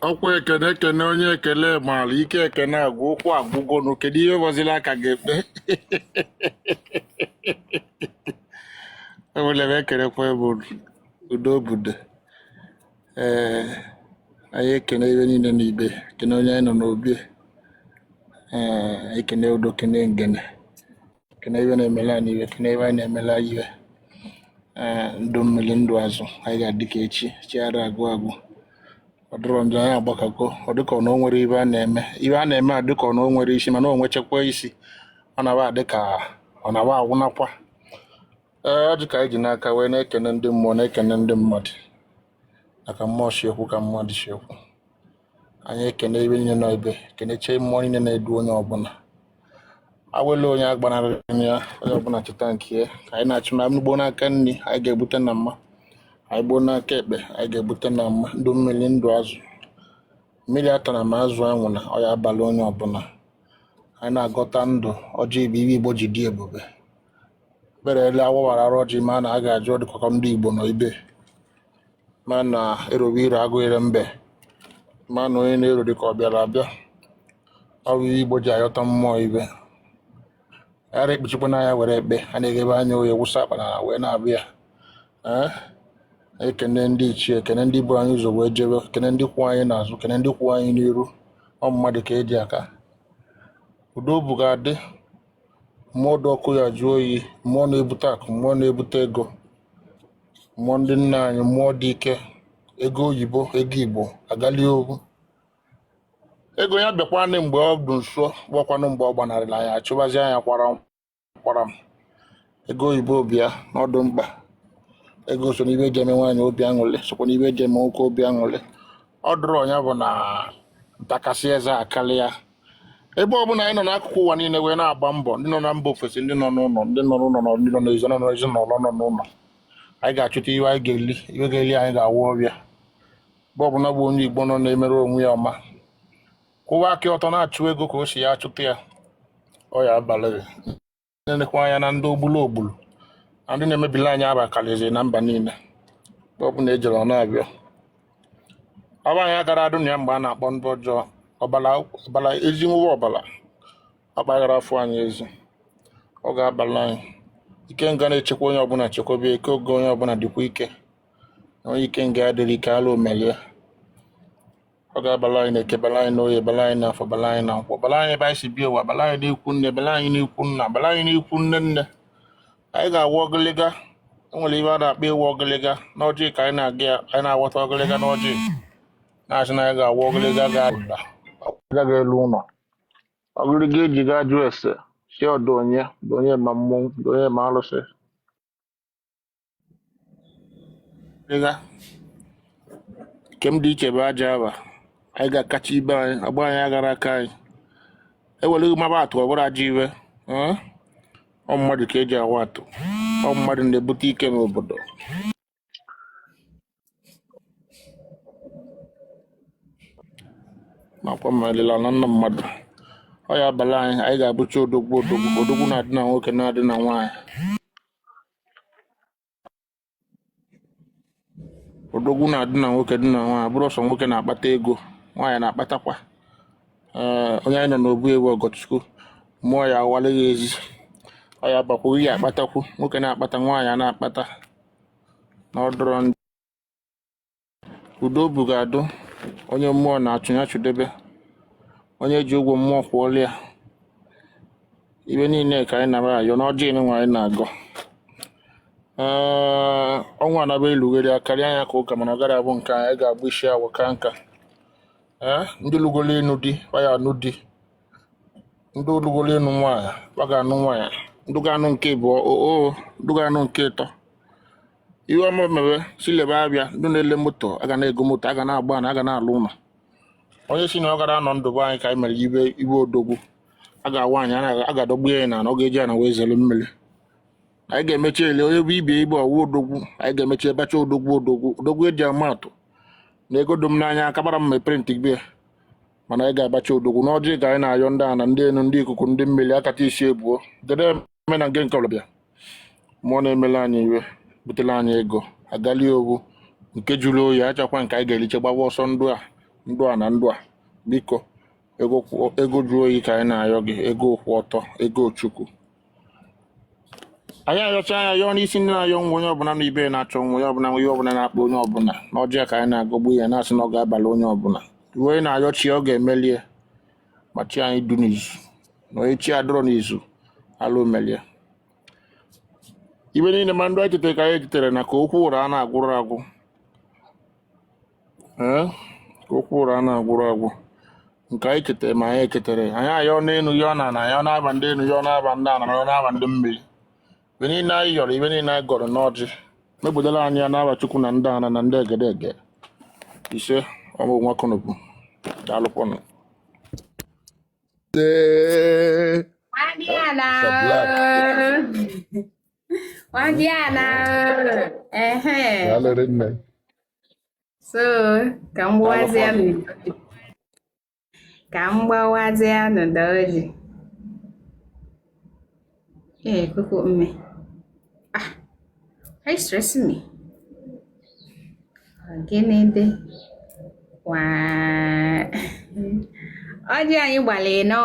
ọkwa ekene ekene onye ekene maara ike ekene agwụ ukwu agwụgonu kedu ihe bọziri aka ga-ekpe enwere m ekenekwa ebe unu. udo obodo ee anyị ekene ihe niile na ibe ekene onye anyị nọ n'obi ee ekene udo kene ngene kene ihe na-emela anyị ihe kene ihe anyị na-emela ihe ee ndụ mmiri ndụ azụ anyị ga-adị ka echi echi ara agwụ agwụ ọ dịrọ njọ anyị agbakọgo ọ dịka ọ na o nwere ihe a na-eme ihe a na-eme a dịka ọ na o nwere isi mana o nwechakwa isi ọ na-aba adị ka ọ na-aba agwụnakwa ee ọjị ka anyị ji n'aka wee na-ekene ndị mmụọ na-ekene ndị mmadụ na ka mmụọ si ekwu ka mmadụ si ekwu anyị ekene ihe niile nọ ebe keneche mmụọ niile na-edu onye ọbụla awele onye agbanarịna ya onye ọbụla chụta nke ya ka anyị na-achụ anyị gbuo n'aka nri anyị ga-ebute na mma anyị gbuo n'aka ekpe anyị ga-ebute na mma ndụ mmiri ndụ azụ mmiri atana ma azụ anwụna ọ ya-abala onye ọbụla anyị na-agọta ndụ ọjị bụ ihe igbo ji dị ebube berele awawara arụ ọjị ma a na a ga-ajụ ọdịkọkọ ndị igbo nọ ibe ma na erowe ire agụ ire mbe ma na onye na-ero dịka ọ bịara abịa ọ bụ ihe igbo ji ayọta mmụọ ihe ara ekpuchikwa anya were ekpe a na-eghebe anya oye wụsa akpa na wee na-abịa ya ee ekene ndị ichie ekene ndị bu anyị ụzọ wee jebe kene ndị kwụ anyị n'azụ kene ndị kwụ anyị n'iru ọ mmadụ ka eji aka udo bụ ga-adị mmụọ dị ọkụ ya jụọ oyi mmụọ na-ebute akụ mmụọ na-ebute ego mmụọ ndị nna anyị mmụọ dị ike ego oyibo ego igbo agali ogu ego ya bịakwanị mgbe ọ dị nso bụkwanụ mgbe ọ gbanarịrị anyị achụbazi anya kwara m ego oyibo bịa na ọ dụ mkpa ego so n'ihe eji eme nwaanyị obi aṅụrị sokwa n'ihe eji eme nwoke obi aṅụrị ọ dụrụ ọnya bụ na ntakasị eze akarị ya ebe ọ bụla anyị nọ n'akụkụ ụwa niile wee na-agba mbọ ndị nọ na mba ofesi ndị nọ n'ụlọ ndị nọ n'ụlọ na ndị nọ n'ezi nọ n'ezi na ụlọ nọ n'ụlọ anyị ga-achụta ihe anyị ga-eli ihe ga-eli anyị ga-awụ ọbịa ebe ọ bụla bụ onye igbo nọ na-emere onwe ya ọma kwụwa aka ọtọ na-achụ ego ka o si ya achụta ya ọ ya abalị na-elekwa anya na ndị ogbulu ogbulu na ndị na-emebili anyị aha akarịziri na mba niile ebe ọbụla ejere ọ na-abịa aha anyị agara adụ na ya mgbe a na-akpọ ndị ọjọọ ọbara ezi nwụwa ọbara akpaghara afọ anyị ezi ọ ga-abala anyị ikenga na-echekwa onye ọbụla chekwaba ike oge onye ọbụla dịkwa ike na onye ikenga adịrị ike ala omelie ọ ga-abala anyị n'eke bala anyị n'oye bala anyị n'afọ bala anyị na nkwọ bala anyị ebe anyị si bịa ụwa bala anyị n'ikwu nne bala anyị n'ikwu nna bala anyị n'ikwu nne nne anyị ga-awa ọgịlịga o nwere ive a na-akpọ ịwa ọgịlịga n'ọjị ka anyị na-aga ya anyị na-aghọta ọgịlịga n'ọjị na-asị na anyị ga-awa ọgịlịga ga-ada ọgịlịga ga-elu ụlọ ọgịlịga eji gaa jụọ ese sị ọ dụ onye dụ onye ma mmụọ dụ onye ma alụsị ịga nke m dị iche bụ ajọ ava anyị ga-akacha ibe anyị agba anyị agara aka anyị eweleghị maba atụ ọ bụrụ ajọ ive ee? ọ mmadụ ka eji ama atụ ọ mmadụ na-ebute ike n'obodo nakwa m alila na nna mmadụ ọ ya abala anyị anyị ga-abụcha odogwu odogwu odogwu na-adị na nwoke na-adị na nwaanyị odogwu na-adị na nwoke dị na nwaanyị bụrụ ọsọ nwoke na-akpata ego nwaanyị na-akpatakwa ee onye anyị nọ n'obu ewu ọgọchukwu mụọ ya awalịghị ezi ọ ya bakwa ihe akpatakwu nwoke na-akpata nwaanyị a na-akpata na ọ dụrọ njọ udo bụ ga-adụ onye mmụọ na-achụ ya chụdebe onye ji ụgwọ mmụọ kwụọla ya ive niile ka anyị nara ayọ n'ọjị nwa anyị na-agọ ee ọnwa anaba elughere ya karịa anya ka ụka mana ọ gara abụ nke anyị ga-agba isi awọ ka nka ee ndị lugolo ịnụ di ọ ya anụ di ndị o lugolo ịnụ nwaanyị ọ ga-anụ nwaanyị ndị ga-anụ nke abụọ oo ndị ga-anụ nke ịtọ ihe ọma mewe silebe abịa ndị na-ele moto a ga na-ego moto a ga na-agba na a ga na-alụ ụlọ onye si na ọ gara anọ ndụ be anyị ka anyị mere ibe ibe odogwu a ga-awa anyị a ga-adọgbu ya na ọ ga-eji ana wee zere mmiri anyị ga-emechi ele onye bụ ibe ibe ọwụ odogwu anyị ga-emecha abụcha odogwu odogwu odogwu eji ama atụ na ego dụ m n'anya akabara m printi gbe mana anyị ga-abụcha odogwu n'ọjị ka anyị na-ayọ ndị ana ndị enu ndị ikuku ndị mmiri akata isi ebuo dede eme na nke nke ọbịa mmụọ na-emele anyị ive butere anyị ego a ga-eli ọ bụ nke jụrụ oyi achakwa nke anyị ga-eriche gbawa ọsọ ndụ a ndụ a na ndụ a biko ego kwụ- ego jụrụ oyi ka anyị na-ayọ gị ego kwụ ọtọ ego chukwu anyị ayọcha anyị ayọọ n'isi ndị na-ayọ nwa onye ọbụla na ibe na-achọ nwa onye ọbụla nwa ihe ọbụla na-akpa onye ọbụla n'ọjị a ka anyị na-agọgbu ya na-asị na ọ ga-abalị onye ọbụla ive onye na-ayọ chi ya ọ ga-emelie ma chi anyị dụ n'izu na onye chi adụrọ n'izu ala omelie ive niile ma ndụ anyị chetere ka anyị echetere na ka okwu ọra a na-agwụrụ agwụ ee ka okwu ụra a na-agwụrụ agwụ nke anyị chetara ma anyị echetara anyị ayọ n'elu yọọ n'ana yọọ n'aba ndị elu yọọ n'aba ndị ana yọọ n'aba ndị mmiri ibe niile anyị yọrọ ibe niile anyị gọrọ n'ọjị mebudala anyị ya n'aba chukwu na ndị ana na ndị egede ege ise ọmụ nwa kụnụbụ daalụkwanụ Ee, Nwandiala. Mr. Black. Nwandiala. Ehe. Daalụ rinne. so ka m gbawazie nụ ka m gbawazie nụ ọjị ee koko mme ah are you stressing me gịnị dị waa ọjị anyị gbalị anọ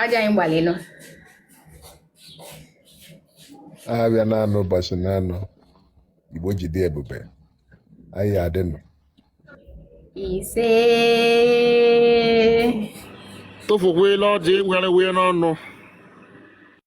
ọjị anyị gbalị anọ abịa naanọ ụbọchị naanọ igbo ji dị ebube anyị adịnụ ise tụfukwela ọjị were wee n'ọnụ